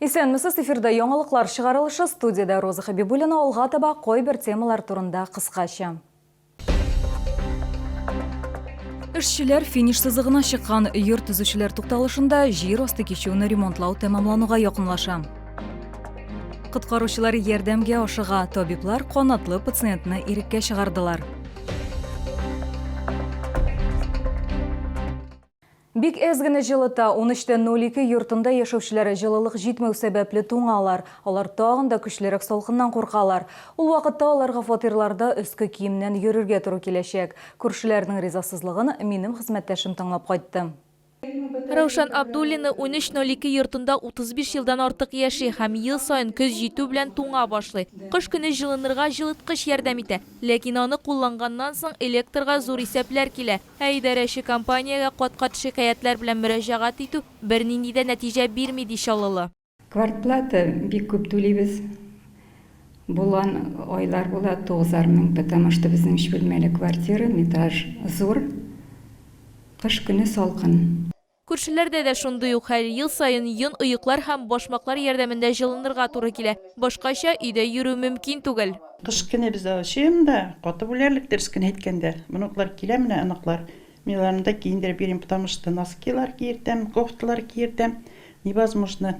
Исәнмесез, эфирда яңалыклар чыгарылышы, студиядә Роза Хәбибуллина, алга таба кайбер темалар турында кыскача. Эшчеләр финиш сызыгына чыккан йорт төзүчеләр тукталышында җир асты кичүне ремонтлау тәмамлануга якынлаша. Коткаручылар ярдәмгә ашыга, табиблар канатлы пациентны иреккә чыгардылар. Бик әз генә җылыта, унөчтән ноль ике йортында яшәүчеләр җылылык җитмәү сәбәпле туңалар. Алар тагын да көчлерәк салкыннан куркалар. Ул вакытта аларга фатирларда өске киемнән йөрергә туры киләчәк. Күршеләрнең ризасызлыгын минем хезмәттәшем тыңлап кайтты. Раушан Абдуллина унөч ноль ике йортында 35 елдан артык яши һәм ел саен көз җитү белән туңа башлый. Кыш көне җылынырга җылыткыч ярдәм итә, ләкин аны кулланганнан соң электрга зур исәпләр килә. Ә идарәче компаниягә кат-кат шикаятьләр белән мөрәҗәгать итү бернинди дә нәтиҗә бирми, ди Чаллылы. Квартплата бик күп түлибез. Булган айлар була, тугызар мең, потому что безнең өч бүлмәле квартира, метраж зур, кыш көне салкын. Күршеләрдә дә шундый ук хәл, ел саен йон, оеклар һәм башмаклар ярдәмендә җылынырга туры килә. Башкача өйдә йөрү мөмкин түгел. Кыш көне без дә очыйм да, катып үләрлек, дөрес кенә әйткәндә. Внуклар килә менә, оныклар. Мин аларны да киендереп йөрим, потому что носкилар киертәм, кофталар киертәм, невозможно.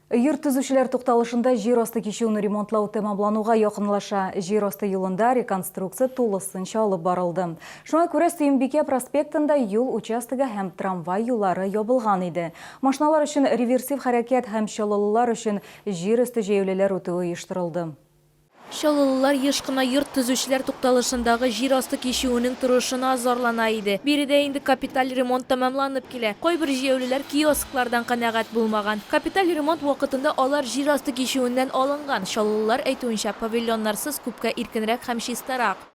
Йорт төзүчеләр тукталышында җир асты кичүен ремонтлау тәмамлануга якынлаша. Җир асты юлында реконструкция тулысынча алып барылды. Шуңа күрә Сөембикә проспектында юл участогы һәм трамвай юллары ябылган иде. Машиналар өчен реверсив хәрәкәт һәм чаллылылар өчен җир өсте җәяүлеләр үтүе оештырылды. Чаллылылар еш кына йорт төзүчеләр тукталышындагы җир асты кичүенең торышына зарлана иде. Биредә инде капиталь ремонт тәмамланып килә. Кайбер җәяүлеләр киосклардан канәгать булмаган. Капиталь ремонт вакытында алар җир асты кичүеннән алынган. Чаллылылар әйтүенчә, павильоннарсыз күпкә иркенрәк һәм чистарак.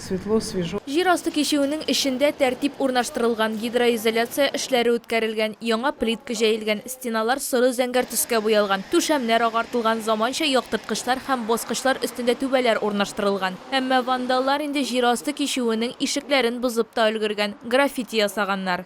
Светло, свежо. Җир асты кичүенең эчендә тәртип урнаштырылган, гидроизоляция эшләре үткәрелгән, яңа плитка җәелгән, стеналар соры-зәңгәр төскә буялган, түшәмнәр агартылган, заманча яктырткычлар һәм баскычлар өстендә түбәләр урнаштырылган. Әмма вандаллар инде җир асты кичүенең ишекләрен бозып та өлгергән, граффити ясаганнар.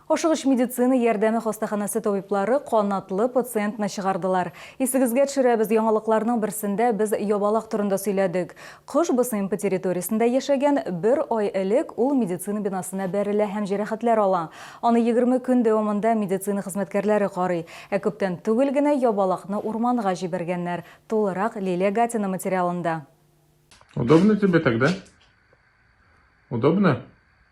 Ашыгыч медицина ярдәме хастаханәсе табиблары канатлы пациентны чыгардылар. Исегезгә төшерәбез, яңалыкларның берсендә без ябалак турында сөйләдек. Кош БСМП территориясендә яшәгән, бер ай элек ул медицина бинасына бәрелә һәм җәрәхәтләр ала. Аны егерме көн дәвамында медицина хезмәткәрләре карый. Ә күптән түгел генә ябалакны урманга җибәргәннәр. Тулырак Лилия Гатина материалында. Удобно тебе тогда? Удобно?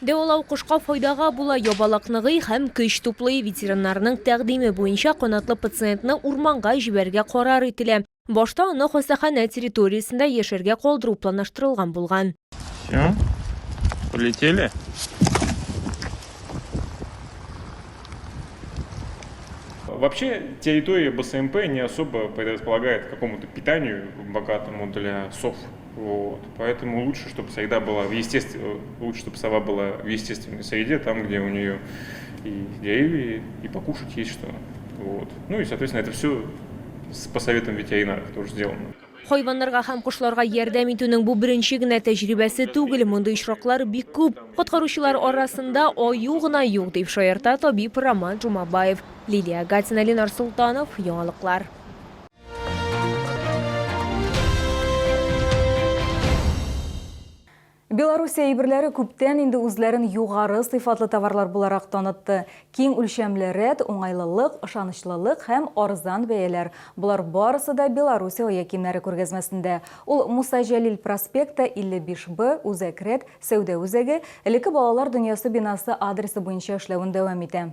Дәвалау кошка файдага була, ябалак ныгый һәм көч туплый. Ветеринарның тәкъдиме буенча канатлы пациентны урманга җибәрергә карар ителә. Башта аны хастаханә территориясендә яшәргә калдыру планлаштырылган булган. Все, полетели. Вообще территория БСМП не особо предрасполагает к какому-то питанию богатому для сов. Вот. Поэтому лучше, чтобы среда была в естественной, э, лучше, чтобы сова была в естественной среде, там, где у нее и деревья, и покушать есть что. Вот. Ну и, соответственно, это все с посоветом ветеринара тоже сделано. Хайваннарга һәм кошларга ярдәм итүнең бу беренче генә тәҗрибәсе түгел, мондый очраклар бик күп. Коткаручылар арасында аю гына юк, дип шаярта табиб Роман Жумабаев. Лилия Гатина, Ленар Султанов, яңалыклар. Белоруссия әйберләре күптән инде үзләрен югары сыйфатлы товарлар буларак танытты. Киң үлчәмле рәт, уңайлылык, ышанычлылык һәм арзан бәяләр. Болар барысы да Белоруссия оя кимнәре күргәзмәсендә. Ул Муса Җәлил проспекты 55Б, Үзәк рәт, сәүдә үзәге, элекке балалар дөньясы бинасы адресы буенча эшләвен дәвам итә.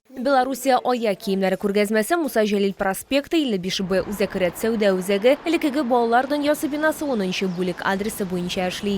Белоруссия ая киемнәре күргәзмәсе Муса Җәлил проспекты, 55 Б, Үзәк ряд сәүдә үзәге, элеккеге Балалар дөньясы бинасы, унынчы бүлек, адресы буенча эшли.